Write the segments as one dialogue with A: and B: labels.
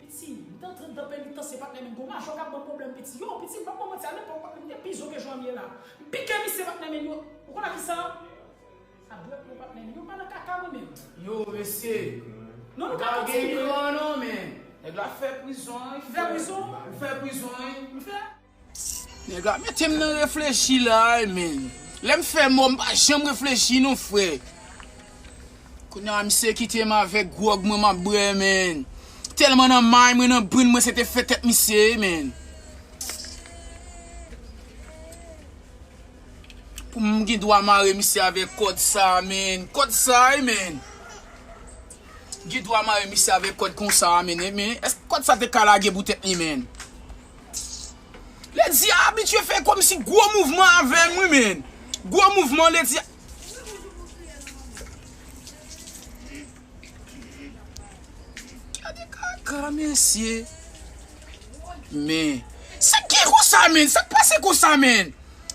A: Piti, m t antre dan penitans se patnè menn gwo majò kap banm pwoblèm piti, yoo piti m pap banm manti a lepòk patnè m te pi zo ke jan m ye la, m pike misye patnè menn yo, ou konn a kisa? A dwèt mwen patnè menn yo pa nan kaka mwen menm. Yoo mesye,
B: non nou ka
A: kontinye. Bagay gran
B: non menn. Nèg la fè prizon wi. M fè prizon? Ou fè prizon wi. M fè. Nèg la metem nan reflechi la wi menn. Lèm fè mò m pa janm reflechi non frè. Kounya misye kitem avèk gwòg mwen map bwè menn. Tèlman nan may mwen nan brin mwen se te fè tèt misye wi menn. Poum gen dwa mare misye avèk kòd sa menn. Kòd sa wi menn. Gen dwa mare misye avèk kòd konsa menn. Èske kòd sa te ka lage pou tèt li menn. Lady a abitye fè komsi gwo mouvman avèm wi menn. Gwo mouvman lady a. Gade kaka mesye. Men. Sak gen konsa menn. Sak pase konsa menn.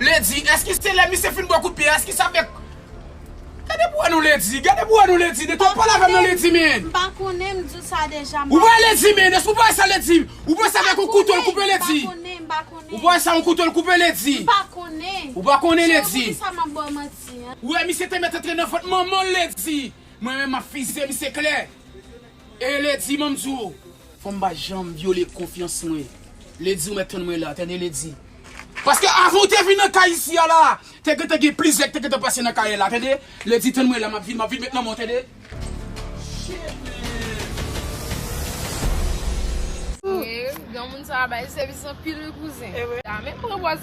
B: Lady eske se lè misye fin bwè kout pye a eske sa fè Gade pou wè non Lady gade pou wè non Lady nèg la pale avèm non Lady men Mpa konnen m di w
C: sa deja Ou pa wè Lady men eske
B: ou pa wè sa Lady Ou panse avèk yon kouto l koupe Lady Mpa konnen mpa konnen Ou pa wè
C: sa yon kouto
B: l koupe Lady Mpa konnen Ou
C: pa konnen Lady Cheri
B: poukisa map baw manti
C: an. Ou wè misye te mèt
B: antre nan vant manman l Lady Mwen menm map fizye misye klè. E lady banm di w. Fanm pa janm vyole konfyans mwen. Lady ou mèt tann mwen la tande lady. Paske avan ou te vin nan kay isi a la te gentan gen plizyè ki te gentan pase nan kay la tande lady tann mwen la map vin map vin met nan men w tande.
D: Shit man. Granmoun sa bay sèvis anpil wi kouzen. Menm pran pòz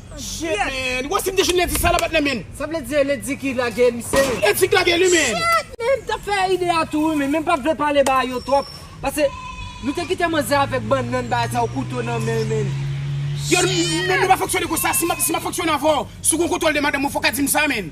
B: Shit! Wè si m te jwenn ledi sa la pat nan menn. Sa vle di e ledi ki
E: lage misye. Ledi ki lage li menn.
B: Shit men m tap fè
E: ide a tou wi men m pat vle pale ba yo twòp pase nou te kite manzè avèk bannann bagay sa ou kouto nan menl menn.
B: Shit! Yo menn nou pa fonksyone konsa si map fonksyone avèw si w gon kontwòl de madanm ou fòk a di m sa menn.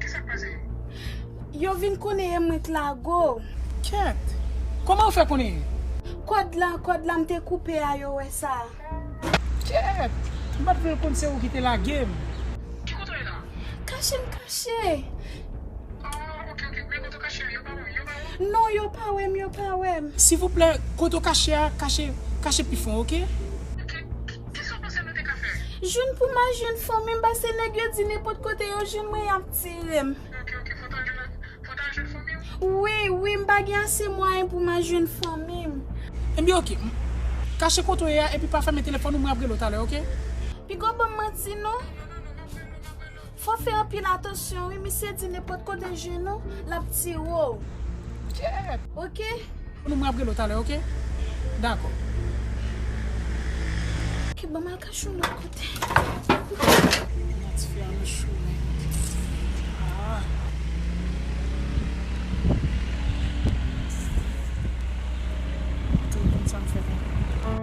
F: Kisak pase yo? Yo
C: vin konnen e mwen k lago. Kyèt!
A: Kòman yo fè konnen e? Kòd la,
C: kòd la m te koupe a yo wè sa. Kyèt!
A: M pat vle l konn se ou ki te lage m. Ki kote w ye
F: la? Kache m
C: kache. Ah
F: ok ok, men kote w kache a yo pa wè w? Yo pa wè w? Non yo pa wè m,
C: yo pa wè m. Sivouplè, kote
A: w kache a, kache pi fon ok. Ok. Kisa
F: w panse nou te ka fè? Jwenn pou ma jwenn
C: fanmim pase nèg yo di nenpot kote yo jwenn mwen yap tirem. Ok ok fout al
F: jwenn fout al jwenn fanmi w. Wi wi m pa
C: gen ase mwayen pou ma jwenn fanmim. Ebyen ok
A: m Kache kote w ye a epi pa fèmen telefòn ou mwen ap rele w talè ok. Pigaw banm
C: manti non. Fò fè anpil atansyon wi misye di nenpòt kote jwenn ou lap tire'w ok. Mwen map relew
A: talè ok dakò.
C: Ok banm al kache yon lòt kote. Nan
A: ti fi a nan chou wi ah. Ou toujou konn sam fè konprann.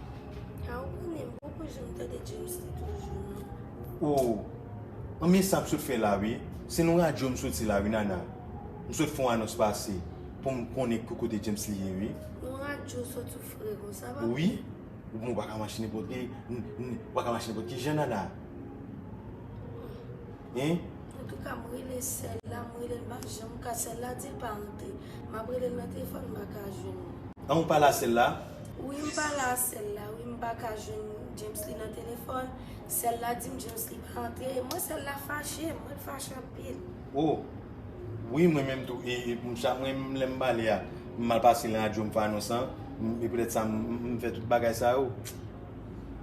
G: Ah
C: ou konnen m poko janm tande James li toujou non.
G: Oh anmyee sam sot fè la wi se nan radyo m soti la wi Nana m sot fon anons pase pou m konnen ki kote James li ye wi. Nan radyo w sot
C: ou fre konsa
G: papi. Wi bon ou paka mache nenpòt ki jan Nana. Hein. Antouka m
C: rele sèl la m relel m pa janm ka sèl la dil pa antre map relel nan telefòn m paka jwenn li. An ou pala sèl la?
G: Wi m pala
C: a sèl la wi m paka jwenn Jamesly nan telefòn sèl la dim Jamesly pa antre e mwen sèl la fache m ret fache anpil. Oh
G: wi mwen menm tou e m chak mwen menm lèm pale a m mal pase nan radyo m fè anons lan e poutèt sa m fè tout bagay sa yo.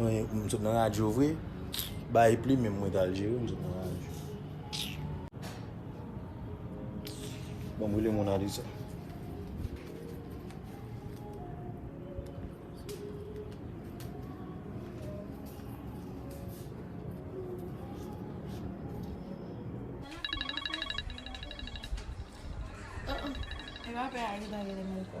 G: M sot nan radyo vre Bay plim m mwen tal jere M sot nan radyo Ban m rele Mona Lisa
D: Ewa pe a li pa rele m anko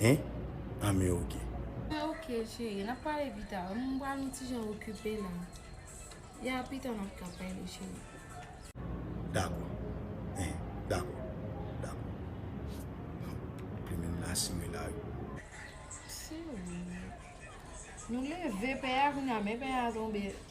D: Hein?
G: Ah men ok. Ah ok
D: chérie, nap pale pi ta. M pral yon ti jan okipe la. Ya pi ta nap ka pale chérie.
G: Dakò. Hein, dakò. Dakò. Plumen m nan simen la wi.
D: Siw. Nou leve pè a kounya men pè a tonbe.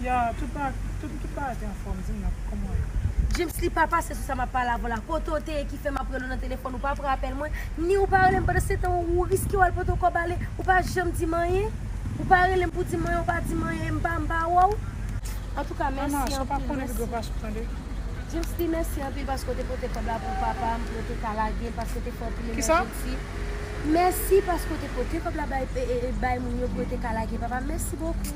A: Ya tout ba tout tout bagay te anfòm dim nan kòman ye. Djimsly pa pase sou sa
C: map pale avèw la kote ou te ye ki fè map relew nan telefòn ou pa pran apèl mwen ni ou pa relem pandan setan ou riske wal pote yon kòb ale ou pa janm dim anyen ou pa relem pou dim anyen ou pa dim anyen m pa m pa wèw. Antouka mèsi anpil mèsi. Djimsly mèsi anpil paske ou te pote kòb la pou papa m pou yo te ka lagel paske ou te fè anpil
A: emèjnsi
C: mèsi paske ou te pote kòb la bay moun yo pou yo te ka lage papa m mèsi bokou.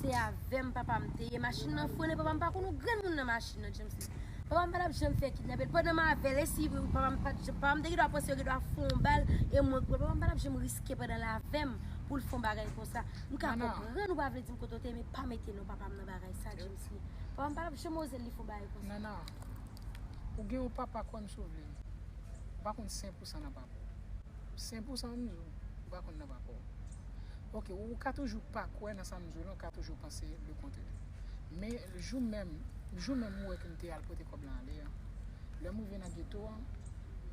C: Se avèm papam te ye machin nan frene papam pa konn ou grenmoun nan machin nan James di papam pa tap janm fè kidnapel pandan mavel esi vre wi papam pat janm papam te gendwa panse yo gendwa fon bal e mwen grenn papam pa tap janm riske pandan l avèm poul fon bagay konsa m ka konprann ou pa vle dim kote w te ye men pa mete non papam nan bagay sa James di papam pa tap janm oze li fon bagay konsa. Nana
A: ou gen yon papa kwèm sou vle m pa konn 100 pou 100 nan. Sen pou sa m di w. Ou pa konn nan pa kò w. Ok, ou ka toujou pa kwè nan sa m di w lan, ou ka toujou panse le kontrè. Men, jou menm, jou menm ou wè ke m te al pote kòb lan ale an, lè m rive nan geto an,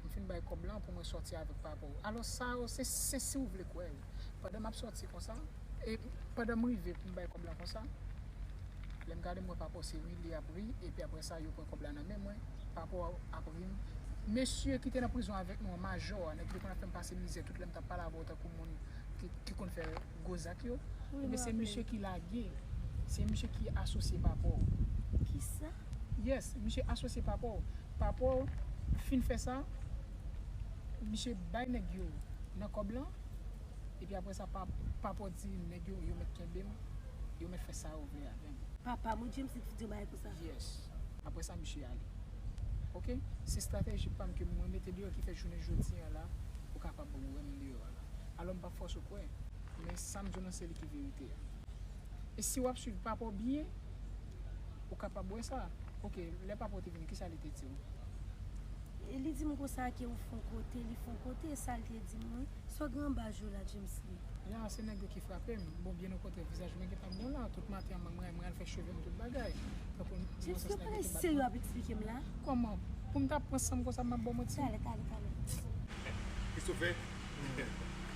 A: m fin bay kòb lan pou mwen sòti avèk papa w. Alò sa yo, se si w vle kwè wi. Pandan map sòti konsa, e pandan m rive pou m bay kòb la konsa, lè m gade m wè Papaw se ri li ap ri, epi aprè sa yo pran kòb la nan men mwen, Papaw ap ri m, Mesye ki te nan prizon avèk nou an, Majò a, nèg ki te konn ap fè m pase mizè tout lè m tap pale avèw tankou moun ki konn fè gwo zak yo, ebyen se misye ki lage, se misye ki asosye Papaw. Kisa?
C: Yes misye
A: asosye papaw. Papaw fin fè sa misye bay nèg yo nan kòb lan epi aprè sa papaw di nèg yo yo mèt kenbem yo mèt fè sa yo vle avèm. Papam wi James
C: li t di yon bagay konsa. Yes aprè
A: sa misye ale ok se strateji pam ke mwen mete deyò ki fè jounen jodi an la ou kapab wèm deyò an la alò mpap fòse w kwè men sam diw lan se li ki verite a e si wap swiv papaw byen Ou kapab wè sa. Ok, lè papa w te vini, kisa li te di w?
C: Li di m konsa ke ou fon kote, li fon kote, e sa l te di m wi. Sò gran baj ou la, Djemsly? Ya, se nèg yo
A: ki frape m. Bon, byen okontrè, vizaj mwen gen tan bon la. Tout maten an, mwen mwen mwen al fè cheve m, tout bagay. Tankou m di mwen
C: sa se nèg yo ki bat mwen. Kòman? Pou m
A: ta pran san m konsa m ap ba w manti? Talè, talè, talè.
G: Christopher?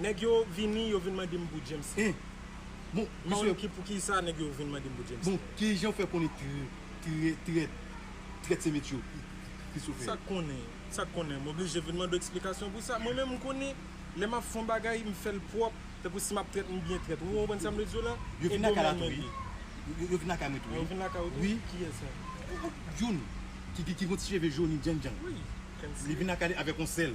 G: Nèg yo
H: vini yo vin mande m pou James Hee. Bon
G: misye. Paul pou ki
H: sa nèg yo vin mande m pou James Hee. Bon ki jan ou fè konnen
G: trèt trèt se met yo ki sou fè yo. Sa k konnen sa k konnen
H: m oblije vin mande w eksplikasyon pou sa. Mwen menm m konnen lè m ap fè yon bagay m fè l pwòp tankou si m ap trèt m byen trèt ou konprann sa m vle di w la. Yo vin lakay la tou wi.
G: Yo vin lakay mwen tou wi. Yo vin lakay ou tou wi.
H: Kiyès sa? Youn
G: ki gen yon ti cheve joni djannjan. Wi.
H: Li vin lakay li
G: avèk yon sèl.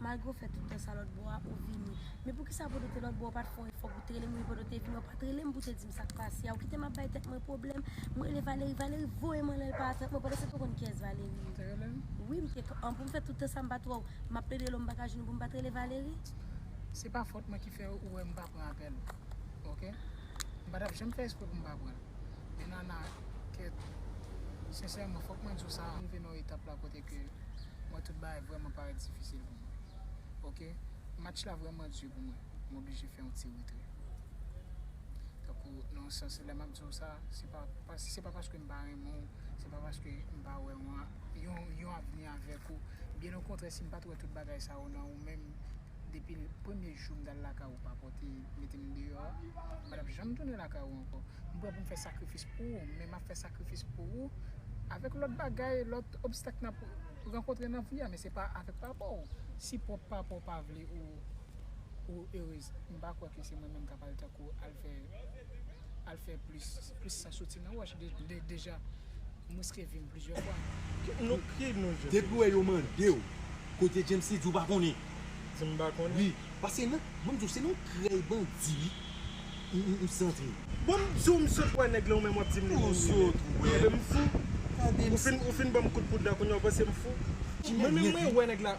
C: Malgre w fè tout tan sa lòtbò a, ou vini. Men poukisa pou w te te lòtbò a, ou pa t fè yon efò pou w te rele m vini pandan w te vini an? Ou pa t rele m pou w te di m sa k pase a? Ou kite m ap bay tèt mwen pwoblèm. M rele Valery, Valery voye m anlè l pa atann mwen pandan se tou konn kiyès Valery ye. Ou te rele m? Wi, m te. An pou m fè tout tan sa m pa t wè w? M ap plede lè w m pa ka jwenn ou pou m pa t rele Valery? Se pa
A: fòt mwen ki fè ou wè m pa pran apèl ou. Ok? M pa t ap janm fè espre pou m pa pran l. Men Nana, kèt. Sensèman, fòk mwen di w sa rive nan yon etap la kote ke. Mwen tout bagay vrèman parèt difisil pou mwen. Ok. Match la vrèman di pou mwen. M oblije fè yon ti retrè. Tankou nan yon sans lè m ap di w sa, se pa se pa paske m pa renmen w, se pa paske m pa wè yon avni avèk ou. Byen okontrè si m pa t wè tout bagay sa yo nan ou menm, Depi premye jou m t al lakay ou pa pòte mete m deyò a, m pa t ap janm tounen lakay ou ankò. M prè pou m fè sakrifis pou ou, men m ap fè sakrifis pou ou avèk lòt bagay, lòt obstak n ap rankontre nan vi a, men se pa avèk papa w. Si pwòp papa w pa vle ou erez, m pa kwè ke se mwen menm k ap al tankou al fè. al fè plis plis san soti nan wòch deja m riske vim plizyè fwa.
H: Depiw wè yo mandew
G: kote James li di ou pa konnen. Di m pa konnen.
H: Wi paske nan
G: banm diw se nan krèy bandi m santre. Bon m diw m
H: sot wè nèg lan ou menm wap dim li menm li menm. Tande m fou. Ou fin banm kout poud la kounya ou panse m fou. Mwen menm mwen wè nèg la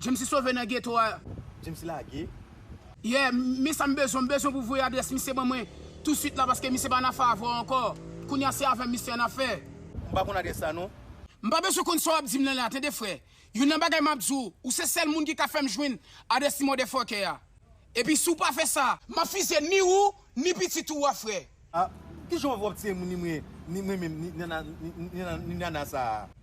B: Jamesy sove nan geto a. Jamesy lage.
G: Yeah
B: men sa m bezwen m bezwen pou voye adrès misye ban mwen tou swit la paske misye pa nan afè avè w ankò kounya se avè m misye an afè. M pa konn adrès la
G: non. M pa bezwen konn sa
B: wap dim lan la tande frè youn nan bagay map diw ou se sèl moun ki ka fèm jwenn adrès ti motherfucker a epi si w pa fè sa map fizye ni ou ni pitit ou a frè. Ah kijan
G: wap tiye moun ni mwen ni mwen menm ni nana sa.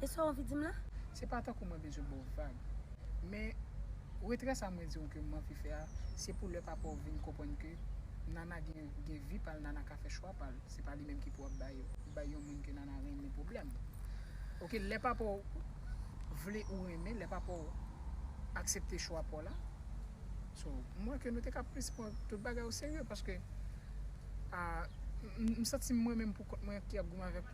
C: E sa w anvi di m la? Se pa tankou mwen
A: bezwen ba w vag. Men, retrè sa mwen di w ke m anvi fè a, se pou lè papa w vin konprann ke Nana gen gen vi pa l, Nana ka fè chwa pa l. Se pa li menm ki pou ap bay bay yon moun ke Nana renmen pwoblèm. Oke, lè papa w vle ou renmen, lè papa w aksepte chwa pa w la. So, m wè ke nou te ka plis pran tout bagay o serye paske, a, m santi m mwen menm pou kont mwen ki ap goumen avèk.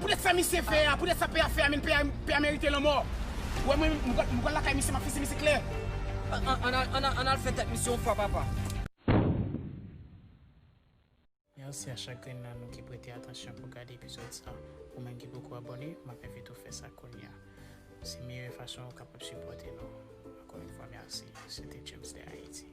A: Poutèt sa misye fè a, poutèt sa pè a fè a menn pè a, pè a merite lanmò. Ou wè mwen, m pral lakay misye, m ap fese misye klè.
E: Ann al fè tèt misye yon fwa papa.
A: Merci a chak grenn nan nou ki prete atansyon pou gade epizod sa. Ou menm ki poko abone, m ap envite w fè sa kounya. Se meyè fason ou kapab sipòte nou. Ankò yon fwa merci. Se te James de Haiti.